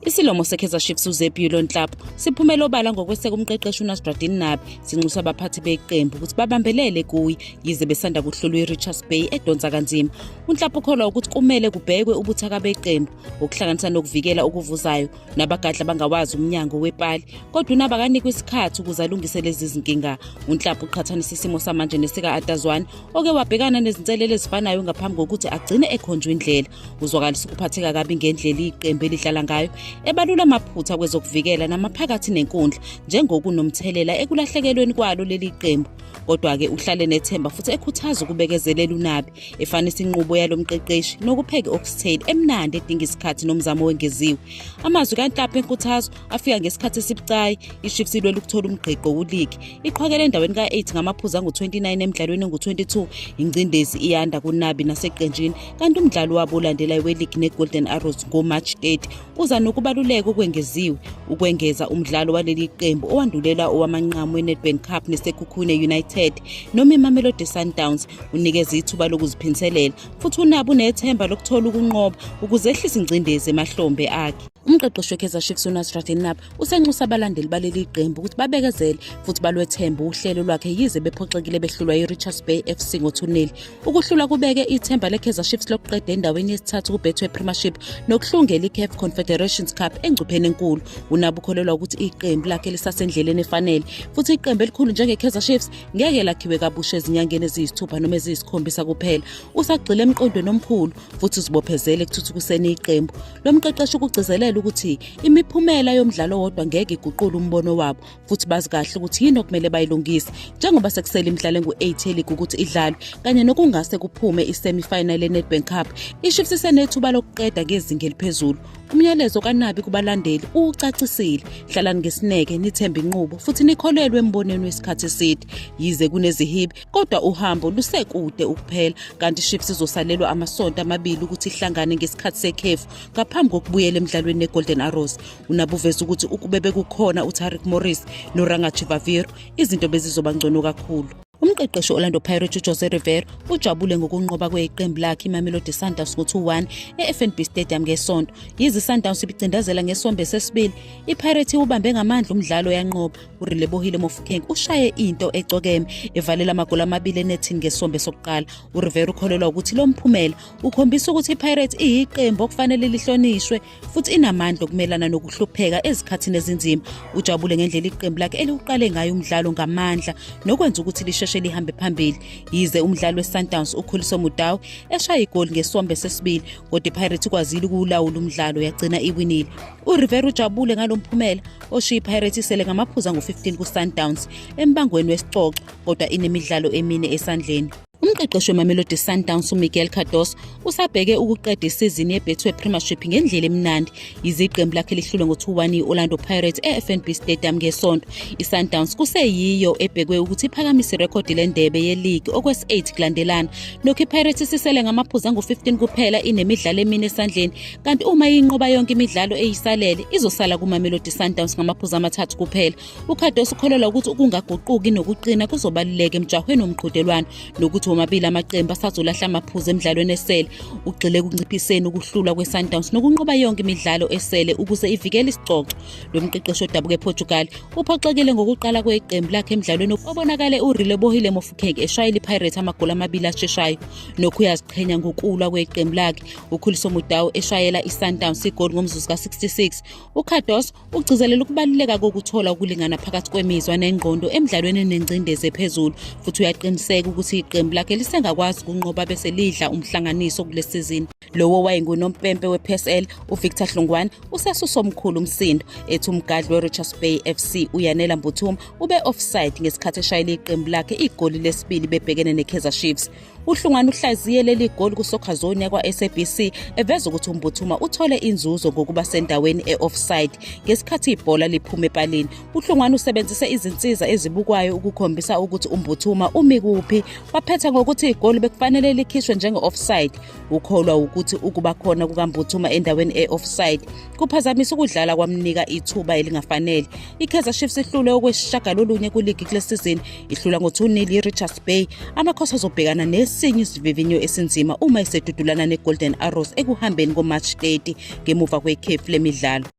Isilomo seKaizer Chiefs uZebulon Nhlap siphumele obala ngokweseka umqeqeshi uNasruddin Nabi sinxusa abaphathi beqembu ukuthi babambelele kuye yize besanda kuhlolwa iRichards Bay edonsa kanzima. UNhlap ukholwa ukuthi kumele kubhekwe ubuthaka beqembu okuhlanganisa nokuvikela okuvuzayo nabagadla bangawazi umnyango wepali kodwa unaba kanikwa isikhathi ukuze alungise lezi zinkinga. UNhlap uqhathanisa isimo samanje nesika Atazwane oke wabhekana nezinselele ezifanayo ngaphambi kokuthi agcine ekhonjwa indlela. Kuzwakalisa ukuphatheka kabi ngendlela iqembu elidlala ngayo, ebalula amaphutha kwezokuvikela namaphakathi nenkundla njengokunomthelela ekulahlekelweni kwalo leli qembu. Kodwa-ke uhlale nethemba futhi ekhuthaza ukubekezelela uNabi, efanisa inqubo yalo mqeqeshi nokupheka i-oxtail emnandi edinga isikhathi nomzamo owengeziwe. Amazwi kaNhlapha enkuthazo afika ngesikhathi esibucayi ichiefs ilwela ukuthola umgqigqo kuligi iqhwakele endaweni ka-8 ngamaphuzu angu-29 emdlalweni engu-22 ingcindezi iyanda kunabi naseqenjini kanti umdlalo wabo olandelayo weligi ne-golden arrows ngomarch 8 uza nokubaluleka okwengeziwe ukwengeza umdlalo waleli qembu owandulela owamanqamu wenedbank cup nesekhukhune united noma imamelodi sundowns unikeza ithuba lokuziphinselela futhi unabi unethemba lokuthola ukunqoba ukuze ehlise ingcindezi emahlombe akhe Umqeqeshi weKaizer Chiefs uNasrat Enab usenxusa abalandeli baleli qembu ukuthi babekezele futhi balwethembe uhlelo lwakhe yize bephoxekile behlulwa yiRichards Bay FC ngothuneli. Ukuhlula kubeke ithemba leKaizer Chiefs lokuqeda endaweni yesithathu kuBetway Premiership nokuhlungela iCAF Confederations Cup engcupheni enkulu. Unabo ukholelwa ukuthi iqembu lakhe lisasendleleni efanele futhi iqembu elikhulu njengeKaizer Chiefs ngeke lakhiwe kabusha ezinyangeni eziyisithupha noma eziyisikhombisa kuphela. Usagxile emqondweni omkhulu futhi uzibophezele ekuthuthukiseni iqembu. Lo mqeqeshi ukugcizelela ukuthi imiphumela yomdlalo wodwa ngeke iguqule umbono wabo futhi bazi kahle ukuthi yini okumele bayilungise njengoba sekusele imidlalo engu-8 yeligi ukuthi idlalwe kanye nokungase kuphume i-semi-final ye-Nedbank Cup. IChiefs isenethuba lokuqeda ngezinga eliphezulu. Umyalezo kaNabi kubalandeli uwucacisile. Hlalani ngesineke, nithembe inqubo futhi nikholelwe embonweni wesikhathi eside. Yize kunezihibe, kodwa uhambo lusekude ukuphela kanti iships izosalelwa amasonto amabili ukuthi ihlangane ngesikhathi sekhefu ngaphambi kokubuyela emdlalweni negolden arrows unabuveza ukuthi ukube bekukhona utaric morris norangachivaviro izinto bezizoba ngcono kakhulu umqeqeshi orlando pirates ujose rivero ujabule ngokunqoba kweqembu lakhe imamelodi sundowns ngo-2-1 e-fnb stadium ngesonto yize isundowns ibicindazela ngesombe sesibili ipirates iwubambe ngamandla umdlalo yanqoba uRelebohile Mofokeng ushaye into ecokeme evalela amagoli amabili enethini ngesombe sokuqala. URivera ukholelwa ukuthi lo mphumela ukhombisa ukuthi iPirates iyiqembu okufanele lihlonishwe futhi inamandla okumelana nokuhlupheka ezikhathini ezinzima. Ujabule ngendlela iqembu lakhe eliwuqale ngayo umdlalo ngamandla nokwenza ukuthi lisheshe lihambe phambili. Yize umdlali weSundowns ukhuliswe nguDawu eshaya igoli ngesombe sesibili kodwa iPirates ikwazile ukuwulawula umdlalo yagcina iwinile. URivera ujabule ngalo mphumela oshiya iPirates isele ngamaphuzu angu-15 kuSundowns embangweni wesicoco kodwa inemidlalo emine esandleni. Umqeqeshi weMamelodi Sundowns uMiguel Cardoso usabheke ukuqeda isizini yeBetway Premiership ngendlela emnandi. Iziqembu lakhe lihlulwe ngo-2-1 i-Orlando Pirates e-FNB Stadium ngesonto. ISundowns kuseyiyo ebhekwe ukuthi iphakamise irekhodi lendebe yeligi okwesi-8 kulandelana. Nokho iPirates isisele ngamaphuzu angu-15 kuphela inemidlalo emine esandleni kanti uma inqoba yonke imidlalo eyisalele izosala kumamelodi sundowns ngamaphuzu amathathu kuphela ukhadosi ukholelwa ukuthi ukungaguquki nokuqina kuzobaluleka emjahweni womqhudelwano nokuthi womabili amaqembu asazolahla amaphuzu emidlalweni esele ugxile ekunciphiseni ukuhlulwa kwesundowns nokunqoba yonke imidlalo esele ukuze ivikele isicoco lo mqeqeshi odabuka eportugal uphoxekile ngokuqala kweqembu lakhe emdlalweni obonakale urilebohile mofukeke eshayela ipirates amagoli amabili asheshayo nokho uyaziqhenya ngokulwa kweqembu lakhe ukhuliso mudawu eshayela isundowns igoli ngomzuzu ka-66 ucardos ugcizelela ukubaluleka kokuthola ukulingana phakathi kwemizwa nengqondo emdlalweni enengcindezi ephezulu futhi uyaqiniseka ukuthi iqembu lakhe lisengakwazi ukunqoba bese lidla umhlanganiso kule sizini lowo wayengunompempe we-psl uvictor hlungwane usasusa omkhulu umsindo ethi umgadli we-richards bay fc uyanela mbuthuma ube-offside ngesikhathi eshayela iqembu lakhe igoli lesibili bebhekene ne-kaizer chiefs uhlungwana uhlaziye leli goli kusoccer zone yakwa-sabc eveza ukuthi umbuthuma uthole inzuzo ngokuba sendaweni e-offside ngesikhathi ibhola liphuma epalini uhlungwana usebenzise izinsiza ezibukwayo ukukhombisa ukuthi umbuthuma umi kuphi waphetha ngokuthi igoli bekufanele likhishwe njenge-offside ukholwa wukuthi ukuba khona kukambuthuma endaweni e-offside kuphazamisa ukudlala kwamnika ithuba elingafanele ikaizer chiefs ihlule okwesishagalolunye kuligi kule sizini Ihlula ngo-2-0 iRichards Bay, amakhosi azobhekana nesinye isivivinyo esinzima uma esedudulana neGolden Arrows ekuhambeni koMarch 30 ngemuva kwekhefu lemidlalo.